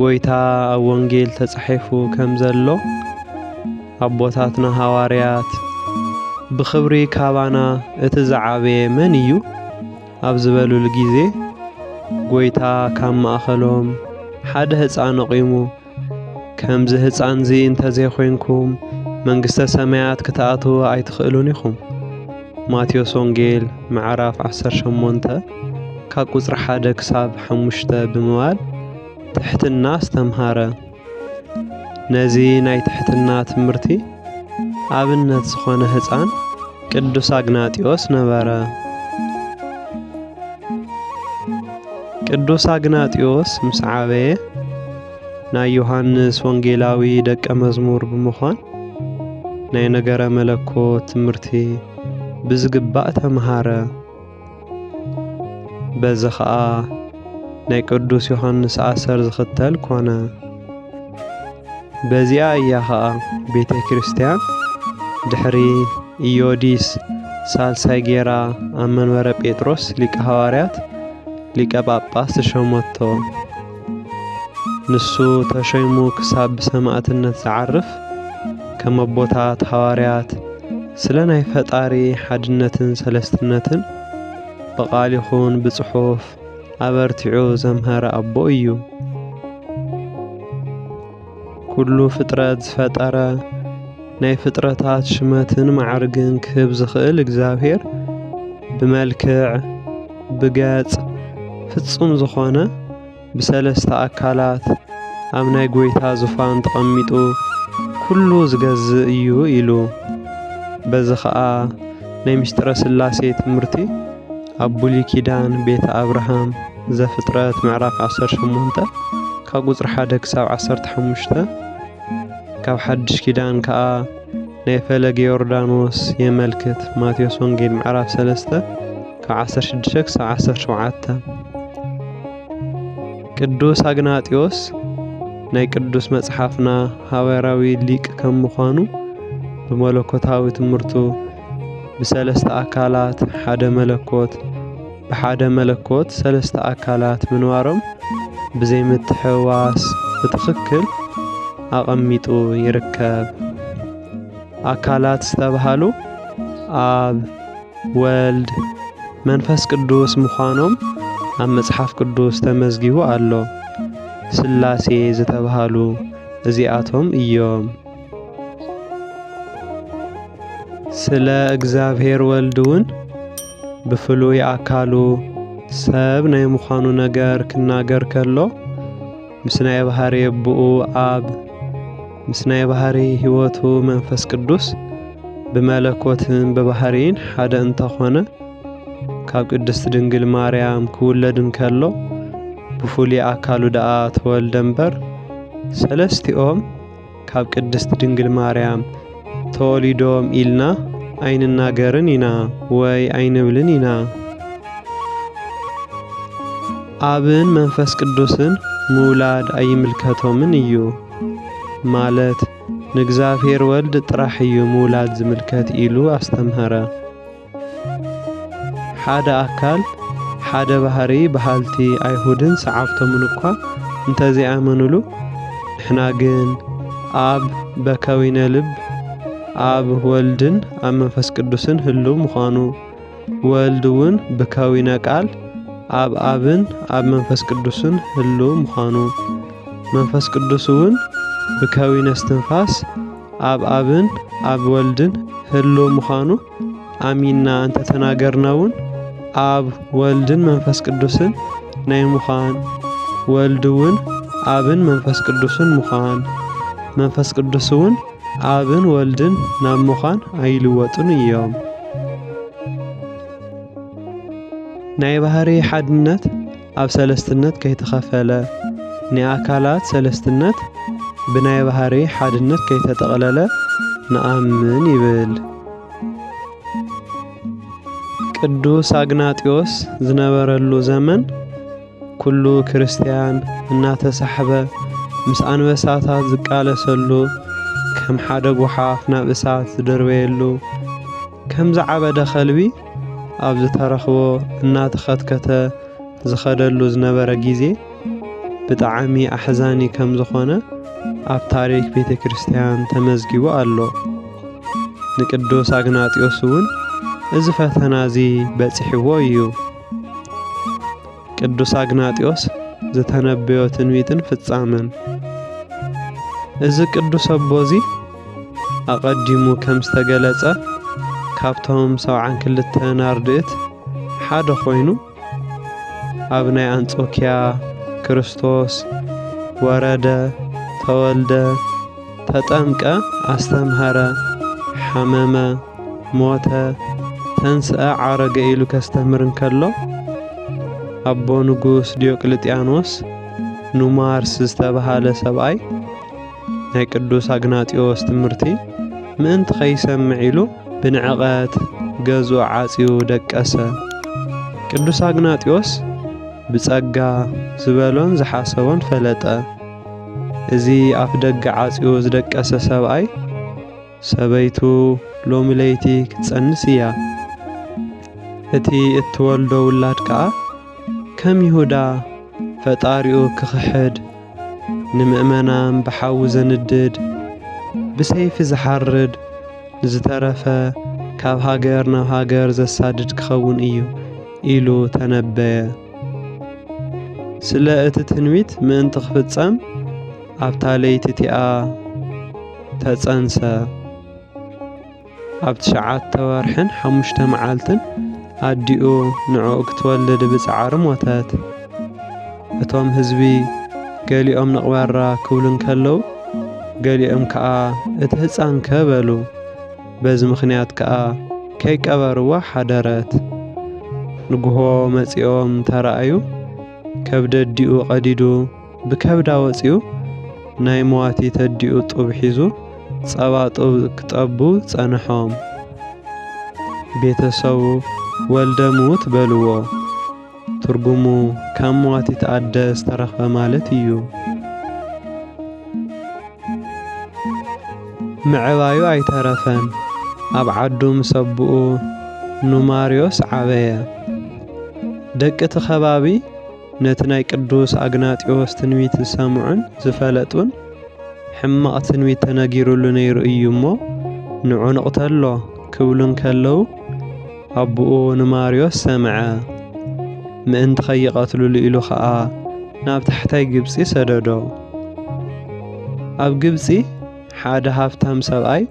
ጎይታ ኣብ ወንጌል ተጻሒፉ ከም ዘሎ ኣቦታትና ሃዋርያት ብኽብሪ ካባና እቲ ዝዓበየ መን እዩ ኣብ ዝበሉሉ ግዜ ጎይታ ካብ ማእኸሎም ሓደ ህፃን ኣቑሙ ከምዚ ህፃንዚ እንተዘይኮይንኩም መንግስተ ሰማያት ክትኣትዉ ኣይትኽእሉን ኢኹም ማቴዎስ ወንጌል ምዕራፍ 18 ካብ ቁጽሪ ሓደ ክሳብ ሓሙሽተ ብምባል ትሕትና ኣስተምሃረ። ነዚ ናይ ትሕትና ትምህርቲ ኣብነት ዝኾነ ህፃን ቅዱስ ኣግናጢዮስ ነበረ። ቅዱስ ኣግናጢዮስ ምስ ዓበየ ናይ ዮሃንስ ወንጌላዊ ደቀ መዝሙር ብምዃን ናይ ነገረ መለኮት ትምህርቲ ብዝግባእ ተምሃረ። በዚ ኸኣ ናይ ቅዱስ ዮሓንስ ኣሰር ዝኽተል ኮነ። በዚኣ እያ ኸኣ ቤተ ክርስቲያን ድሕሪ ኢዮዲስ ሳልሳይ ጌራ ኣብ መንበረ ጴጥሮስ ሊቀ ሃዋርያት ሊቀ ጳጳስ ተሸሞቶ። ንሱ ተሾይሙ ክሳብ ብሰማእትነት ዝዓርፍ ከም ኣቦታት ሃዋርያት ስለ ናይ ፈጣሪ ሓድነትን ሰለስትነትን ብቓል ይኹን ብጽሑፍ ኣበርቲዑ ዘምሀረ ኣቦ እዩ። ኩሉ ፍጥረት ዝፈጠረ ናይ ፍጥረታት ሽመትን መዓርግን ክህብ ዝኽእል እግዚኣብሔር ብመልክዕ ብገጽ ፍጹም ዝኾነ ብሰለስተ ኣካላት ኣብ ናይ ጎይታ ዙፋን ተቐሚጡ ኩሉ ዝገዝእ እዩ ኢሉ በዚ ኸኣ ናይ ምስጢረ ሥላሴ ትምህርቲ ኣብ ብሉይ ኪዳን ቤተ ኣብርሃም ዘፍጥረት ምዕራፍ ዓሰርተ ሸሞንተ ካብ ቁፅሪ ሓደ ክሳብ ዓሰርተ ሓሙሽተ ካብ ሓድሽ ኪዳን ከዓ ናይ ፈለገ ዮርዳኖስ የመልክት ማቴዎስ ወንጌል ምዕራፍ ሰለስተ ካብ ዓሰርተ ሽዱሽተ ክሳብ ዓሰርተ ሸውዓተ ቅዱስ ኣግናጢዮስ ናይ ቅዱስ መጽሓፍና ሃዋርያዊ ሊቅ ከም ምዃኑ ብመለኮታዊ ትምህርቱ ብሰለስተ ኣካላት ሓደ መለኮት ብሓደ መለኮት ሰለስተ ኣካላት ምንባሮም ብዘይ ምትሕውዋስ ብትኽክል ኣቐሚጡ ይርከብ። ኣካላት ዝተብሃሉ ኣብ፣ ወልድ፣ መንፈስ ቅዱስ ምዃኖም ኣብ መጽሓፍ ቅዱስ ተመዝጊቡ ኣሎ። ስላሴ ዝተብሃሉ እዚኣቶም እዮም። ስለ እግዚኣብሔር ወልድ እውን ብፍሉይ ኣካሉ ሰብ ናይ ምዃኑ ነገር ክናገር ከሎ ምስ ናይ ባህሪ ኣቦኡ ኣብ ምስ ናይ ባህሪ ሕይወቱ መንፈስ ቅዱስ ብመለኮትን ብባህሪን ሓደ እንተኾነ ካብ ቅድስት ድንግል ማርያም ክውለድ እንከሎ ብፍሉይ ኣካሉ ደኣ ተወልደ እምበር ሰለስቲኦም ካብ ቅድስት ድንግል ማርያም ተወሊዶም ኢልና ኣይንናገርን ኢና ወይ ኣይንብልን ኢና። ኣብን መንፈስ ቅዱስን ምውላድ ኣይምልከቶምን እዩ ማለት ንእግዚኣብሔር ወልድ ጥራሕ እዩ ምውላድ ዝምልከት ኢሉ ኣስተምሀረ። ሓደ ኣካል ሓደ ባህሪ በሃልቲ ኣይሁድን ሰዓብቶምን እኳ እንተዘይኣመኑሉ ንሕና ግን ኣብ በከዊነ ልብ ኣብ ወልድን ኣብ መንፈስ ቅዱስን ህልው ምዃኑ ወልድ እውን ብከዊነ ቃል ኣብ ኣብን ኣብ መንፈስ ቅዱስን ህልው ምዃኑ መንፈስ ቅዱስ እውን ብከዊነ እስትንፋስ ኣብ ኣብን ኣብ ወልድን ህልው ምዃኑ ኣሚንና እንተተናገርና እውን ኣብ ወልድን መንፈስ ቅዱስን ናይ ምዃን ወልድ እውን ኣብን መንፈስ ቅዱስን ምዃን መንፈስ ቅዱስ እውን ኣብን ወልድን ናብ ምዃን ኣይልወጡን እዮም። ናይ ባህሪ ሓድነት ኣብ ሰለስትነት ከይተኸፈለ፣ ንኣካላት ሰለስትነት ብናይ ባህርይ ሓድነት ከይተጠቕለለ ንኣምን ይብል። ቅዱስ ኣግናጢዮስ ዝነበረሉ ዘመን ኩሉ ክርስትያን እናተሳሕበ ምስ ኣንበሳታት ዝቃለሰሉ ከም ሓደ ጓሓፍ ናብ እሳት ዝድርበየሉ ከም ዝዓበደ ከልቢ ኣብ ዝተረኽቦ እናተኸትከተ ዝኸደሉ ዝነበረ ግዜ ብጣዕሚ ኣሕዛኒ ከም ዝኾነ ኣብ ታሪክ ቤተ ክርስቲያን ተመዝጊቡ ኣሎ። ንቅዱስ ኣግናጢዮስ እውን እዚ ፈተና እዚ በፂሕዎ እዩ። ቅዱስ ኣግናጢዮስ ዝተነበዮ ትንቢትን ፍጻመን እዚ ቅዱስ ኣቦ እዚ ኣቐዲሙ ከም ዝተገለጸ ካብቶም ሰብዓን ክልተ ናርድእት ሓደ ኮይኑ ኣብ ናይ ኣንጾኪያ ክርስቶስ ወረደ ተወልደ ተጠምቀ ኣስተምሀረ ሓመመ ሞተ ተንስኣ ዓረገ ኢሉ ከስተምህር እንከሎ ኣቦ ንጉስ ዲዮቅልጥያኖስ ኑማርስ ዝተብሃለ ሰብኣይ ናይ ቅዱስ ኣግናጢዎስ ትምህርቲ ምእንቲ ከይሰምዕ ኢሉ ብንዕቐት ገዝኡ ዓጽዩ ደቀሰ። ቅዱስ ኣግናጢዎስ ብጸጋ ዝበሎን ዝሓሰቦን ፈለጠ። እዚ ኣፍደገ ዓጽዩ ዝደቀሰ ሰብኣይ፣ ሰበይቱ ሎሚ ለይቲ ክትጸንስ እያ፣ እቲ እትወልዶ ውላድ ከኣ ከም ይሁዳ ፈጣሪኡ ክኽሕድ፣ ንምእመናን ብሓዊ ዘንድድ፣ ብሰይፊ ዝሓርድ፣ ንዝተረፈ ካብ ሃገር ናብ ሃገር ዘሳድድ ክኸውን እዩ ኢሉ ተነበየ። ስለ እቲ ትንቢት ምእንቲ ክፍጸም ኣብታ ለይቲ እቲኣ ተጸንሰ። ኣብ ትሽዓተ ወርሕን ሓሙሽተ መዓልትን ኣዲኡ ንዕኡ ክትወልድ ብጻዕሪ ሞተት። እቶም ህዝቢ ገሊኦም ንቕበራ ክብሉ እንከለዉ ገሊኦም ከኣ እቲ ህጻንከ በሉ። በዚ ምኽንያት ከኣ ከይቀበርዋ ሓደረት። ንግሆ መጺኦም ተራእዩ ከብዲ ኣዲኡ ቀዲዱ ብከብዳ ወጺኡ ናይ መዋቲት ኣዲኡ ጡብ ሒዙ ጸባ ጡብ ክጠቡ ጸንሖም። ቤተሰቡ ወልደ ምዉት በልዎ። ትርጉሙ ካብ መዋቲት ኣደ ዝተረኽበ ማለት እዩ። ምዕባዩ ኣይተረፈን፣ ኣብ ዓዱ ምስ ኣቡኡ ኑማርዮስ ዓበየ። ደቂ እቲ ከባቢ ነቲ ናይ ቅዱስ ኣግናጢዎስ ትንቢት ዝሰምዑን ዝፈለጡን ሕማቕ ትንቢት ተነጊሩሉ ነይሩ እዩ እሞ ንዑ ንቕተሎ ክብሉ እንከለዉ ኣቡኡ ንማርዮስ ሰምዐ፣ ምእንቲ ኸይቐትልሉ ኢሉ ኸኣ ናብ ታሕታይ ግብጺ ሰደዶ። ኣብ ግብጺ ሓደ ሃብታም ሰብኣይ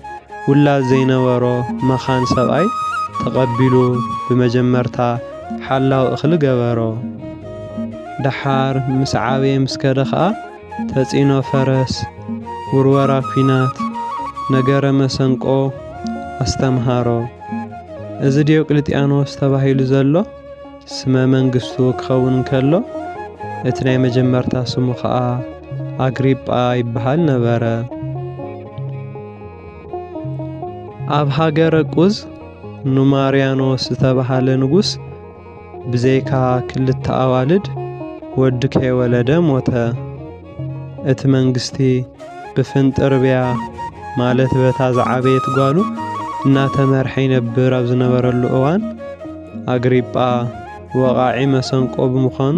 ውላድ ዘይነበሮ መኻን ሰብኣይ ተቐቢሉ ብመጀመርታ ሓላው እኽሊ ገበሮ። ደሓር ምስ ዓበየ ምስ ከደ ኸኣ፣ ተጽዕኖ ፈረስ፣ ውርወራ ኲናት፣ ነገረ መሰንቆ፣ ኣስተምሃሮ። እዚ ዲዮቅልጥያኖስ ተባሂሉ ዘሎ ስመ መንግስቱ ክኸውን እንከሎ፣ እቲ ናይ መጀመርታ ስሙ ኸኣ ኣግሪጳ ይበሃል ነበረ። ኣብ ሃገረ ቁዝ ኑማርያኖስ ዝተባህለ ንጉስ፣ ብዘይካ ክልተ ኣዋልድ ወዲ ከይወለደ ሞተ። እቲ መንግስቲ ብፍንጥርብያ ማለት በታ ዝዓበየት ጓሉ እናተመርሐ ይነብር ኣብ ዝነበረሉ እዋን ኣግሪጳ ወቓዒ መሰንቆ ብምዃኑ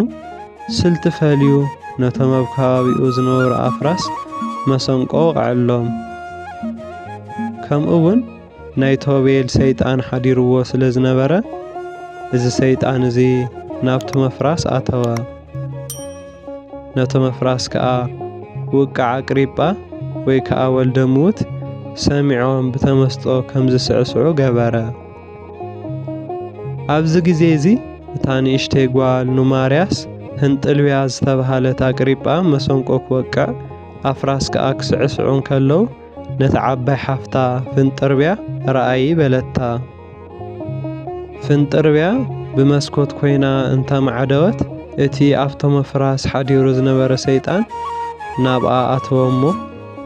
ስልቲ ፈልዩ ነቶም ኣብ ከባቢኡ ዝነበሩ ኣፍራስ መሰንቆ ወቕዐሎም። ከምኡ'ውን ናይ ቶቤል ሰይጣን ሓዲርዎ ስለ ዝነበረ እዚ ሰይጣን እዚ ናብቲ መፍራስ ኣተወ። ነቶ መፍራስ ከኣ ውቃዕ ኣቅሪጳ ወይ ከኣ ወልደ ምዉት ሰሚዖም ብተመስጦ ከም ዝስዕስዑ ገበረ። ኣብዚ ግዜ እዚ እታ ንእሽተይ ጓል ኑማርያስ ህንጥልብያ ዝተብሃለት ኣቅሪጳ መሰንቆ ክወቅዕ ኣፍራስ ከኣ ክስዕስዑ እንከለዉ ነታ ዓባይ ሓፍታ ፍንጥርብያ ረኣዪ በለታ። ፍንጥርብያ ብመስኮት ኮይና እንተማዕደወት እቲ ኣብቶም ኣፍራስ ሓዲሩ ዝነበረ ሰይጣን ናብኣ ኣተወ እሞ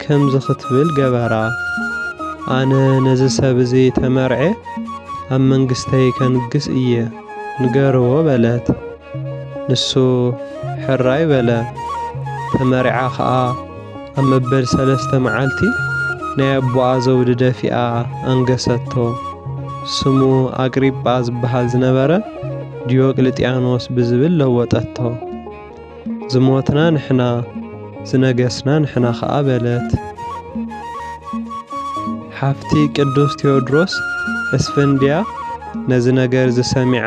ከምዚ ክትብል ገበራ፣ ኣነ ነዚ ሰብ እዚ ተመርዔ ኣብ መንግስተይ ከንግስ እየ፣ ንገርዎ በለት። ንሱ ሕራይ በለ፣ ተመሪዓ ኸኣ። ኣብ መበል ሰለስተ መዓልቲ ናይ ኣቦኣ ዘውዲ ደፊኣ ኣንገሰቶ። ስሙ ኣግሪጳ ዝበሃል ዝነበረ ዲዮቅልጥያኖስ ብዝብል ለወጠቶ። ዝሞትና ንሕና፣ ዝነገስና ንሕና ኸኣ በለት። ሓፍቲ ቅዱስ ቴዎድሮስ እስፍንድያ ነዚ ነገርዚ ሰሚዓ፣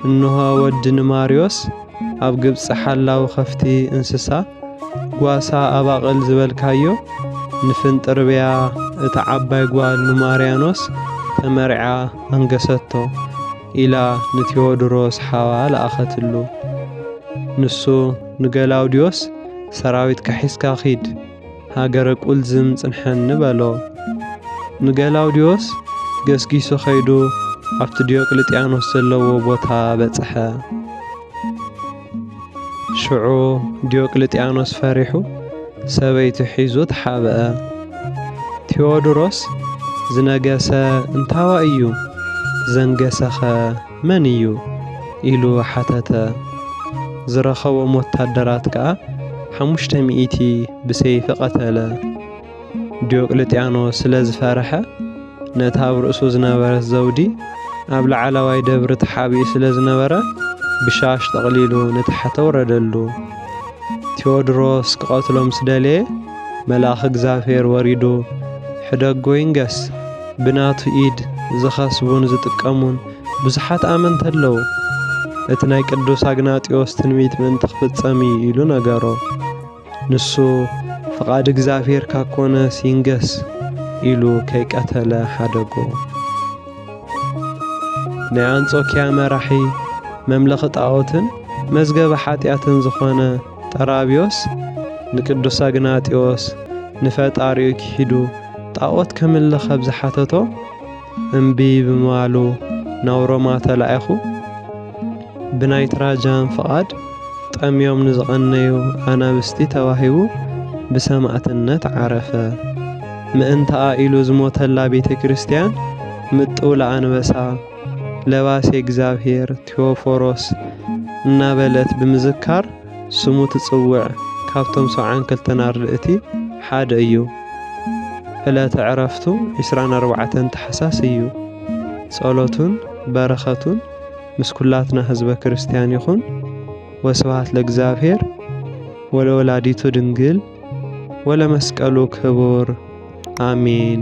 እንሆ ወዲ ንማርዮስ ኣብ ግብጺ ሓላው ኸፍቲ እንስሳ ጓሳ ኣባቕል ዝበልካዮ ንፍንጥርብያ እታ ዓባይ ጓል ንማርያኖስ ተመርዕያ ኣንገሰቶ ኢላ ንቴዎድሮስ ሓዋ ለኣኸትሉ። ንሱ ንገላውድዮስ ሰራዊትካ ሒዝካ ኺድ፣ ሃገረ ቁልዝም ጽንሐን ንበሎ። ንገላውድዮስ ገስጊሱ ኸይዱ ኣብቲ ዲዮቅልጥያኖስ ዘለዎ ቦታ በጽሐ። ሽዑ ዲዮቅልጥያኖስ ፈሪሑ ሰበይቱ ሒዙ ተሓብአ። ቴዎድሮስ ዝነገሰ እንታዋይ እዩ ዘንገሰኸ? መን እዩ? ኢሉ ሓተተ። ዝረኸቦም ወታደራት ከኣ ሓሙሽተ ሚእቲ ብሰይፊ ቀተለ። ዲዮቅልጥያኖስ ስለ ዝፈርሐ፣ ነቲ ኣብ ርእሱ ዝነበረት ዘውዲ ኣብ ላዕለዋይ ደብሪ ተሓቢኡ ስለ ዝነበረ፣ ብሻሽ ጠቕሊሉ ንታሕቲ ኣውረደሉ። ቴዎድሮስ ክቐትሎ ምስ ደለየ፣ መልኣኽ እግዚኣብሔር ወሪዱ ሕደጎ ይንገስ ብናቱ ኢድ ዝኸስቡን ዝጥቀሙን ብዙሓት ኣመንቲ ኣለዉ። እቲ ናይ ቅዱስ ኣግናጢዎስ ትንቢት ምእንቲ ክፍጸም እዩ ኢሉ ነገሮ። ንሱ ፍቓድ እግዚኣብሔር ካብ ኮነስ ይንገስ ኢሉ ከይቀተለ ሓደጎ። ናይ ኣንጾኪያ መራሒ መምለኺ ጣዖትን መዝገበ ሓጢኣትን ዝኾነ ጠራብዮስ ንቅዱስ ኣግናጢዎስ ንፈጣሪኡ ኪሒዱ ጣዖት ከምልኽ ኣብ ዝሓተቶ እምቢ ብምባሉ ናብ ሮማ ተላኢኹ ብናይ ትራጃን ፍቓድ ጠምዮም ንዝቐነዩ ኣናብስቲ ተዋሂቡ ብሰማእትነት ዓረፈ። ምእንታኣ ኢሉ ዝሞተላ ቤተ ክርስቲያን ምጥውላ ኣንበሳ ለባሴ እግዚኣብሔር ቴዎፎሮስ እናበለት ብምዝካር ስሙ ትጽውዕ ካብቶም ሰብዓን ክልተን ኣርድእቲ ሓደ እዩ። ዕለተ ዕረፍቱ ዕስራን ኣርባዕተን ታሕሳስ እዩ። ጸሎቱን በረኸቱን ምስ ኩላትና ህዝበ ክርስቲያን ይኹን። ወስብሐት ለእግዚኣብሔር ወለወላዲቱ ድንግል ወለመስቀሉ ክቡር ኣሜን።